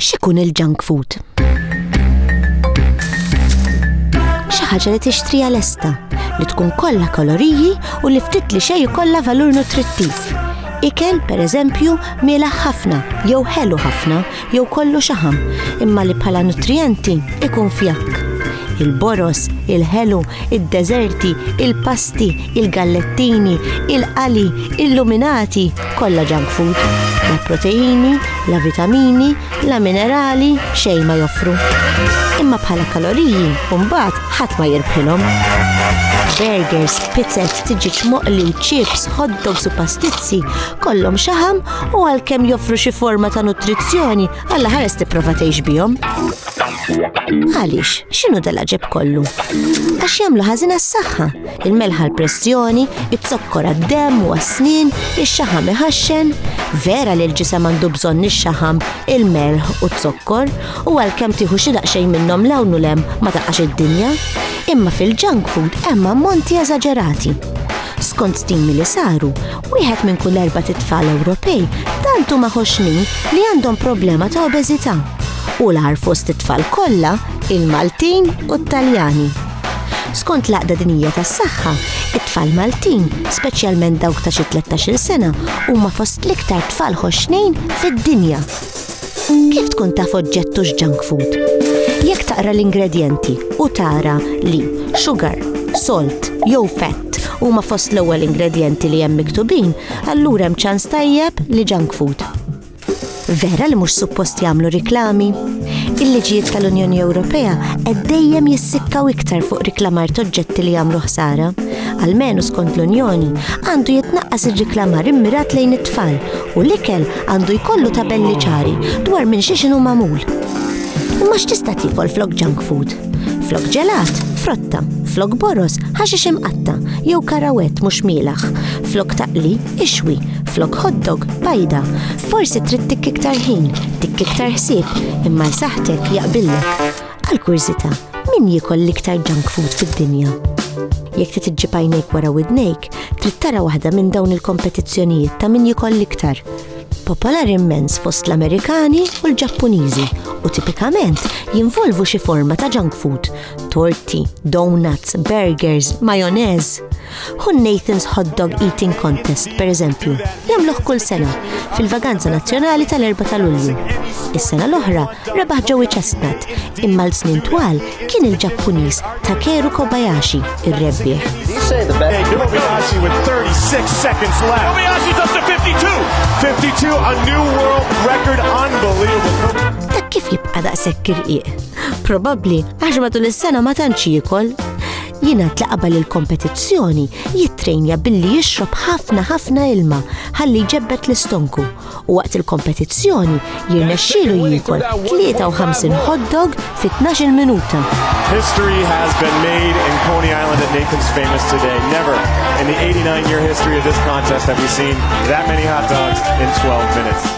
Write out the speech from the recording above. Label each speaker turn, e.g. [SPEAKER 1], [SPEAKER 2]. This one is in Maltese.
[SPEAKER 1] X'ikun il-junk food? Xi ħaġa li tixtrija lesta, li tkun kollha koloriji u li ftit li xejn kollha valur nutrittiv. Ikel, per eżempju, miela ħafna jew ħelu ħafna jew kollu xaħam, imma li bħala nutrijenti ikun fjakk. Il-boros, il-ħelu, id-deżerti, il-pasti, il-gallettini, il-qali, il-luminati, kollha junk food. La proteini, la vitamini, la minerali, xejn ma joffru. Imma bħala kaloriji, mbagħad ħadd ma jirbħilhom. Burgers, pizzet, tiġiġ moqli, chips, hot dogs u pastizzi kollhom xaħam u għalkemm joffru xi forma ta' nutrizzjoni, alla ħares tipprova tgħix bihom. Għaliex, x'inhu dal-aġeb kollu? Għax jagħmlu ħażin għas-saħħa, il-melħa l-pressjoni, it-zokkor għad-demm u għas-snin, ix-xaħam iħaxxen. Vera li l-ġisem għandu bżonn ix-xaħam, il-melħ u t-zokkor, u għalkemm tieħu xi daqsxejn minnhom l-hawn u lem ma taqax id-dinja. Imma fil-junk food hemm ammonti eżaġerati. Skont stimi li saru, wieħed minn kull erba' tit-tfal Ewropej tant huma ħoxnin li għandhom problema ta' obeżità u l-għar fost it-tfal kollha il-Maltin u t-Taljani. Skont l-Għaqda Dinija tas-Saħħa, it-tfal Maltin, speċjalment dawk ta' xi 13-il sena, huma fost l-iktar tfal ħoxnin fid-dinja. Kif tkun taf oġġett hux junk food? Jekk taqra l-ingredjenti u tara li sugar, salt jew fett huma fost l-ewwel ingredjenti li hemm miktubin, allura hemm ċans tajjeb li junk food. Vera li mhux suppost jagħmlu riklami? Il-liġijiet tal-Unjoni Ewropea qed dejjem jissikkaw iktar fuq riklamar toġġetti li jagħmlu ħsara. Almenu skont l-Unjoni, għandu jitnaqqas ir-riklamar immirat lejn it-tfal U l-ikel għandu jkollu tabelli ċari dwar minn xiex inhu magħmul. Imma x'tista' tiekol flok junk food? Flok ġelat, frotta, flok boros, ħaxix imqatta, jew karawet mhux mielaħ, flok taqli, ixwi, flok hotdog, bajda. Forsi trid tikk iktar ħin, tikk iktar ħsieb, imma jsaħħtek jaqbillek. Għal kurzita, min jikol l-iktar junk food fid-dinja? Jekk trid iġġib għajnejk wara widnejk, trid tara waħda minn dawn il-kompetizzjonijiet ta' min jikol l-iktar. Popolar immens fost l-Amerikani u l-Ġappuniżi u tipikament jinvolvu xi forma ta' junk food, torti, donuts, burgers, majonez. Hu Nathan's Hot Dog Eating Contest, per eżempju, jagħmluh kull sena fil-vaganza nazzjonali tal-4 ta' Lulju. Is-sena l-oħra rebaħ Joey Chestnut, imma l-snin twal kien il-Ġappuniż Takeru Kobayashi ir-rebbieħ. Kobayashi with 36 seconds left. Kobayashi up to 52. 52 a new world record unbelievable. Dak kif jibqa' daqshekk irqiq? Probabbli għax matul is-sena ma tantx jiekol Jingħad li qabel il-kompetizzjoni jittrejnja billi jixrob ħafna ħafna ilma ħalli jġebbed l-istonku u waqt il-kompetizzjoni jirnexxielu jiekol 53 hot dog fi 12 minuta. History has been made in Coney Island at Nathan's Famous today. Never in the 89-year history of this contest have we seen that many hot dogs in 12 minutes.